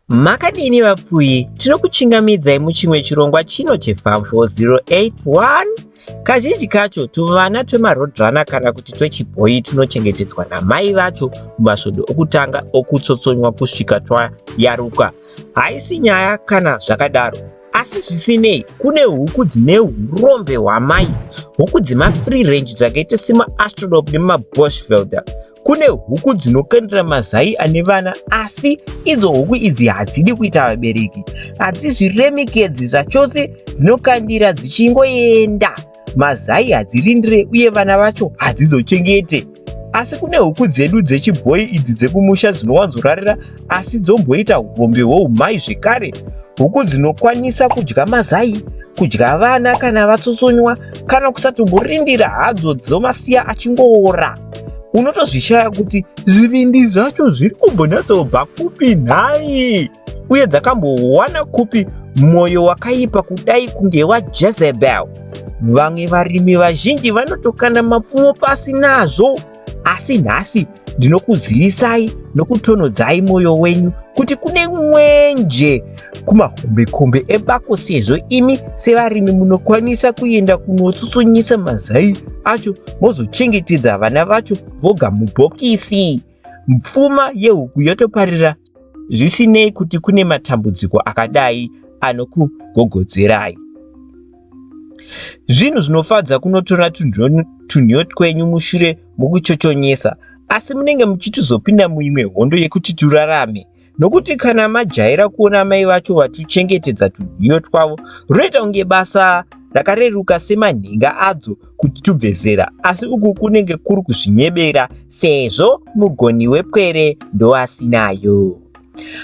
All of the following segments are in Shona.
Makadini vapfuyi, tinokuchingamidzai muchimwe chirongwa chino cheFarm 4081. Kazhinji kacho tuvana twemarodrunner kana kuti twechibhoyi tunochengetedzwa namai vacho mumasvondo okutanga okutsotsonywa kusvika twayaruka. Haisi nyaya kana zvakadaro, asi zvisinei kune huku dzine urombe hwamai, huku dzemafree range dzakaita semaastrodop nemaboschvelder. Kune huku dzinokandira mazai ane vana asi idzo huku idzi hadzidi kuita vabereki. Hadzizviremekedzi zvachose dzinokandira dzichingoenda. Mazai hadzirindire uye vana vacho hadzizochengete. Asi kune huku dzedu dzechibhoyi idzi dzekumusha dzinowanzorarira asi dzomboita hurombe hwoumai zvekare. Huku dzinokwanisa kudya mazai, kudya vana kana vatsutsonywa, kana kusatomborindira hadzo dzomasiya achingoora. Unotozvishaya kuti zvivindi zvacho zviri kumbonyatsobva kupi nhai, uye dzakambowana kupi mwoyo wakaipa kudai kunge waJezebel. Vamwe varimi vazhinji vanotokanda mapfumo pasi nazvo. Asi nhasi ndinokuzivisai nokutonodzai mwoyo wenyu kuti kune mwenje kumahombekombe ebako sezvo imi sevarimi munokwanisa kuenda kunotsutsonyisa mazai acho mozochengetedza vana vacho voga mubhokisi. Pfuma yehuku yotoparira zvisinei kuti kune matambudziko akadai anokugogodzerai. Zvinhu zvinofadza kunotora tunhiyo twenyu mushure mokuchochonyesa, asi munenge muchitizopinda muimwe hondo yekuti turarame nokuti kana majaira kuona mai vacho vatuchengetedza tunhiyo twavo runoita kunge basa rakareruka semanhinga adzo kuti tubve zera asi uku kunenge kuri kuzvinyebera sezvo mugoni wepwere ndoasinayo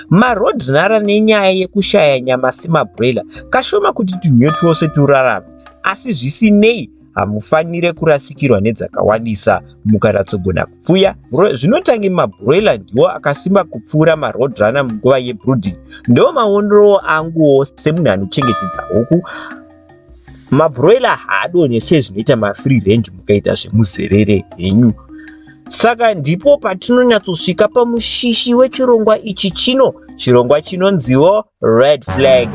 marodnara nenyaya yekushaya nyama semabrela kashoma kuti tunhiyo twose turarame asi zvisinei hamufanire kurasikirwa nedzakawandisa mukaratsogona kupfuya zvinotange mabroiler ndiwo akasimba kupfuura marodrana munguva yebrooding ndo maonrowo anguwo semunhu anochengetedza huku mabroiler haadonhe sezvinoita mafree range mukaita zvemuzerere henyu saka ndipo patinonyatsosvika pamushishi wechirongwa ichi chino chirongwa chinonziwo red flag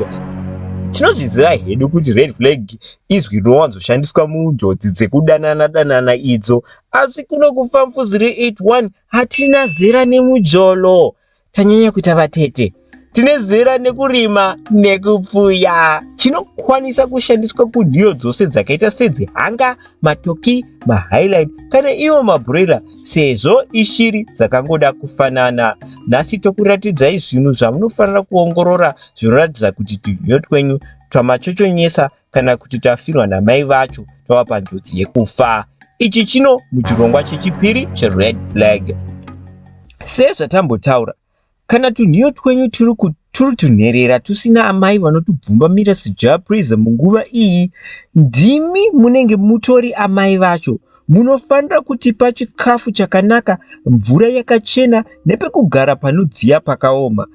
tinozviziva hedu kuti red flag izwi rinowanzoshandiswa munjodzi dzekudanana danana idzo asi kuno kufamfuz re 81 hatina zera nemujolo tanyanya kuita vatete tine zera nekurima nekupfuya chinokwanisa kushandiswa kunhiyo dzose dzakaita sedzihanga matoki mahighline kana iwo mabroira sezvo ishiri dzakangoda kufanana nhasi tokuratidzai zvinhu zvamunofanira kuongorora zvinoratidza kuti tunhiyo twenyu twamachochonyesa kana kuti tafirwa namai vacho tava panjodzi yekufa. Ichi chino muchirongwa chechipiri cheRed Flag. Sezvatambotaura, kana tunhiyo twenyu turi turi tunherera tusina amai vanotubvumbamira sejaprisa munguva iyi, ndimi munenge mutori amai vacho. Munofanira kutipa chikafu chakanaka, mvura yakachena nepekugara panodziya pakaoma.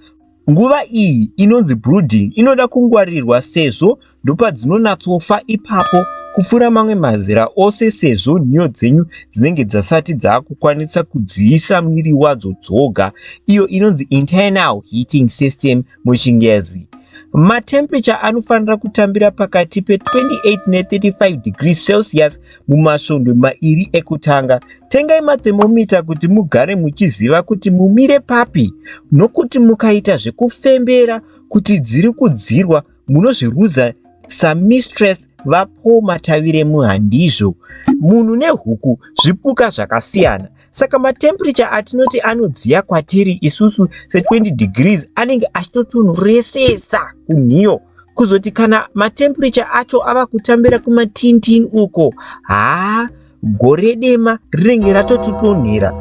Nguva iyi inonzi brooding inoda kungwaririrwa sezvo ndopadzinonatsofa ipapo kupfuura mamwe mazera ose sezvo nhiyo dzenyu dzinenge dzasati dzaakukwanisa kudziisa mwiri wadzo dzoga iyo inonzi internal heating system muchingezi. Matemperature anofanira kutambira pakati pe28 ne35 degrees Celsius Mumasvondo mairi ekutanga, tengai mathemomita kuti mugare muchiziva kuti mumire papi nokuti mukaita zvekufembera kuti dziri kudzirwa munozviruza saMistress VaPaul Mataviremu handizvo. Munhu nehuku zvipuka zvakasiyana saka matemperature atinoti anodziya kwatiri isusu se20 degrees anenge achitotonhoresesa kunhiyo. kuzoti kana matemperature acho ava kutambira kumatintin uko haa gore dema rinenge ratotidonhera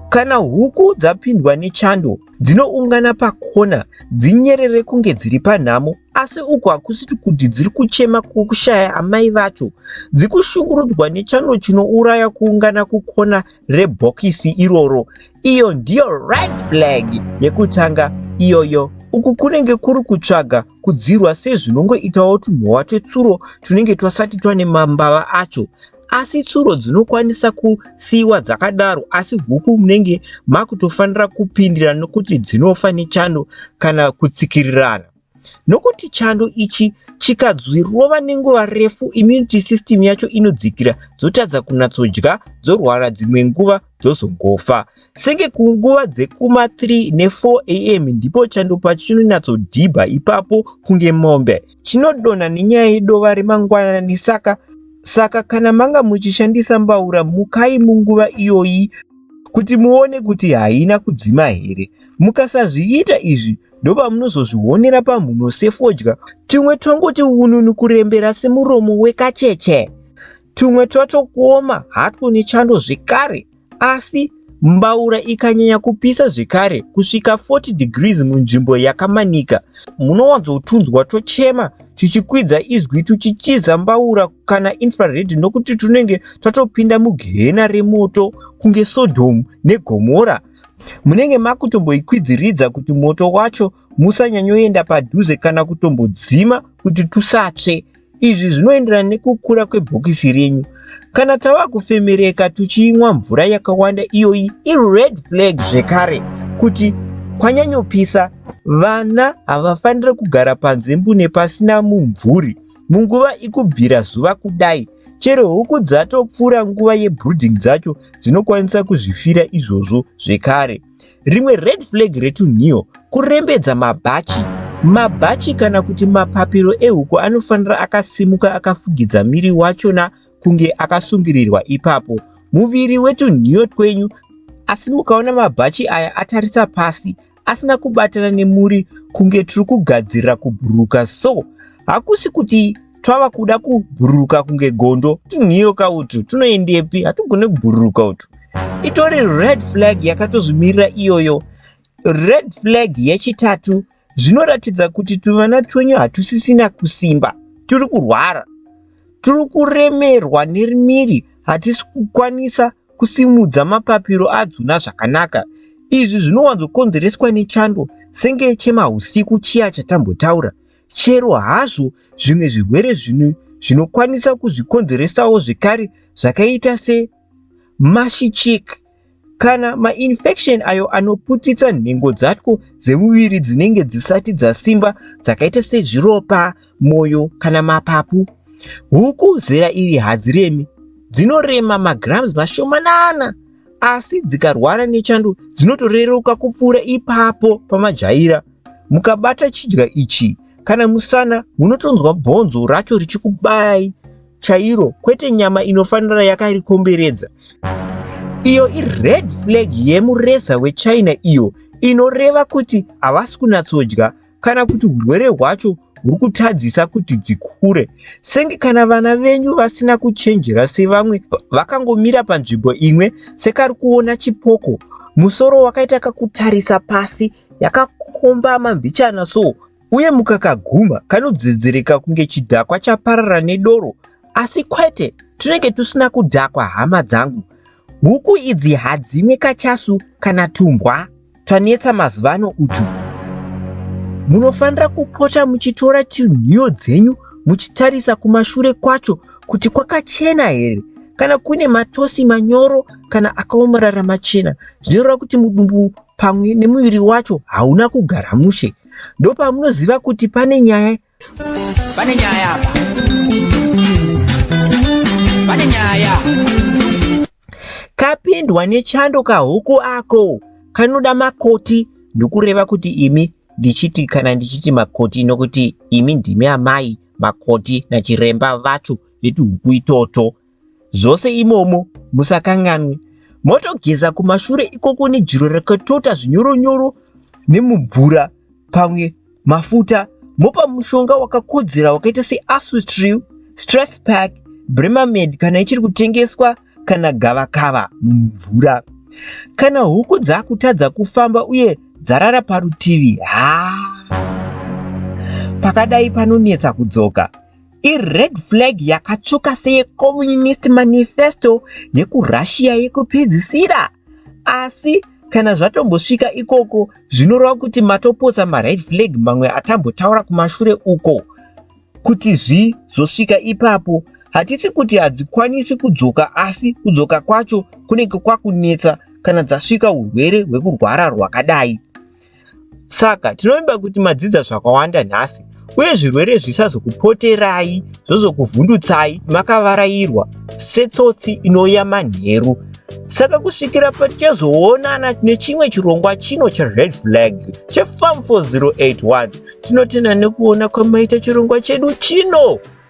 kana huku dzapindwa nechando dzinoungana pakona dzinyerere kunge dziri panhamo asi uku hakusiti kuti dziri kuchema kukushaya amai vacho dzikushungurudzwa nechando chinouraya kuungana kukona rebhokisi iroro iyo ndiyo right flag yekutanga iyoyo uku kunenge kuri kutsvaga kudzirwa sezvinongoitawo tumhowa twetsuro tunenge twasati twane mambava acho asi tsuro dzinokwanisa kusiiwa dzakadaro asi huku munenge makutofanira kupindira nokuti dzinofa nechando kana kutsikirirana Nokuti chando ichi chikadzwirova nenguva refu immunity system yacho inodzikira dzotadza kunatsodya dzorwara dzimwe nguva dzozongofa. Senge kunguva dzekuma 3 ne4 am ndipo chando pacho chinonyatsodhibha ipapo kunge mombe. Chinodonha nenyaya yedova remangwanani saka saka kana manga muchishandisa mbaura mukai munguva iyoyi kuti muone kuti haina kudzima here. Mukasazviita izvi ndopamunozozvionera pamhuno sefodya tumwe twangoti ununu kurembera semuromo wekacheche tumwe twato kuoma hatwo nechando zvekare asi mbaura ikanyanya kupisa zvekare kusvika 40 degrees munzvimbo yakamanika munowanzotunzwa tochema tichikwidza izwi tuchitiza mbaura kana infrared nokuti tunenge twatopinda mugehena remoto kunge sodhomu negomora Munenge makutomboikwidziridza kuti moto wacho musanyanyoenda padhuze kana kutombodzima kuti tusatsve. Izvi zvinoenderana nekukura kwebhokisi renyu. Kana tava kufemereka tuchiinwa mvura yakawanda iyoyi ired flag zvekare kuti kwanyanyopisa vana havafanire kugara panze mbune pasina mumvuri. Munguva ikubvira zuva kudai, chero huku dzatopfuura nguva yebrooding dzacho dzinokwanisa kuzvifira izvozvo zvekare. Rimwe red flag retunhiyo kurembedza mabhachi. Mabhachi kana kuti mapapiro ehuku anofanira akasimuka akafugidza miri wachona kunge akasungirirwa ipapo. Muviri wetunhiyo twenyu asi mukaona mabhachi aya atarisa pasi asina kubatana nemuri kunge tiri kugadzirira kubhururuka so hakusi kuti twava kuda kubhururuka kunge gondo tunhiyoka utu tunoendepi hatugone kubhururuka utu itori red flag yakatozvimirira iyoyo red flag yechitatu zvinoratidza kuti tuvana twenyu hatusisina kusimba turi kurwara tiri kuremerwa nerimiri hatisi kukwanisa kusimudza mapapiro adzona zvakanaka. Izvi zvinowanzokonzereswa nechando senge chemahusiku chiya chatambotaura. Chero hazvo zvimwe zvirwere zvino zvinokwanisa kuzvikonzeresawo zvekare zvakaita se mashi chick kana mainfection ayo anoputitsa nhengo dzatwo dzemuviri dzinenge dzisati dzasimba dzakaita sezviropa, moyo kana mapapu. Huku zera iri hadziremi, dzinorema magrams mashomanana asi dzikarwara nechando dzinotoreruka kupfuura ipapo pamajaira. Mukabata chidya ichi kana musana munotonzwa bhonzo racho richikubayai chairo kwete nyama inofanira yakarikomberedza. Iyo ired flag yemureza wechina iyo inoreva kuti havasi kunatsodya kana kuti urwere hwacho huri kutadzisa kuti dzikure senge kana vana venyu vasina kuchenjera sevamwe vakangomira panzvimbo imwe sekari kuona chipoko musoro wakaita kakutarisa pasi yakakombama mbichana so uye mukakaguma kanodzedzereka kunge chidhakwa chaparara nedoro asi kwete tunenge tusina kudhakwa hama dzangu huku idzi hadzimwe kachasu kana tumbwa twanetsa mazuvano utu. Munofanira kupota muchitora chinhiyo dzenyu muchitarisa kumashure kwacho kuti kwakachena here kana kune matosi manyoro kana akaomarara machena zvinoreva kuti mudumbu pamwe nemuviri wacho hauna kugara mushe ndopamunoziva kuti pane nyaya Pane nyaya apa. Pane nyaya. Kapindwa nechando kahuku ako kanoda makoti ndokureva kuti imi ndichiti kana ndichiti makoti nokuti imi ndimi amai makoti nachiremba vacho vetuhuku itoto zvose imomo musakanganwe motogeza kumashure ikoko nejiro rakatota zvinyoronyoro nemumvura pamwe mafuta mopa mushonga wakakodzera wakaita seasustril stress pack bremamed kana ichiri kutengeswa kana gavakava mumvura kana huku dzakutadza kufamba uye dzarara parutivi haa pakadai panonetsa kudzoka ired flag yakatsvuka seyecommunist manifesto yekurussia yekupedzisira asi kana zvatombosvika ikoko zvinoreva kuti matopotsa mared flag mamwe atambotaura kumashure uko kuti zvizosvika ipapo hatisi kuti hadzikwanisi kudzoka asi kudzoka kwacho kunenge kwakunetsa kana dzasvika urwere hwekurwara rwakadai Saka tinovimba kuti madzidza zvakawanda nhasi uye zvirwere zvisazokupoterai zvozokuvhundutsai makavarairwa setsotsi inouya manheru. Saka kusvikira patichazoonana nechimwe chirongwa chino chered flag chefarm 4081 tinotenda nekuona kwamaita chirongwa chedu chino.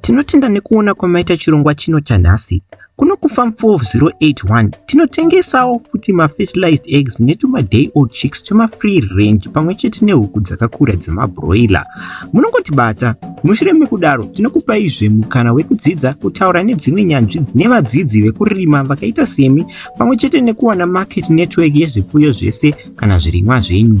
Tinotenda nekuona kwamaita chirongwa chino chanhasi. Kuno kuFarm 4081 tinotengesawo futi mafertilized eggs netumaday old chicks twemafree range pamwe chete nehuku dzakakura dzemabroiler. Munongotibata. Mushure mekudaro tinokupaizve mukana wekudzidza kutaura nedzimwe nyanzvi nevadzidzi vekurima vakaita semi pamwe chete nekuwana market network yezvipfuyo zvese kana zvirimwa zvenyu.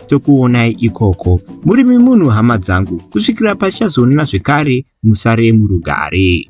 tokuonai ikoko muri mimunhu hama dzangu kusvikira pachazoonana zvekare musare murugare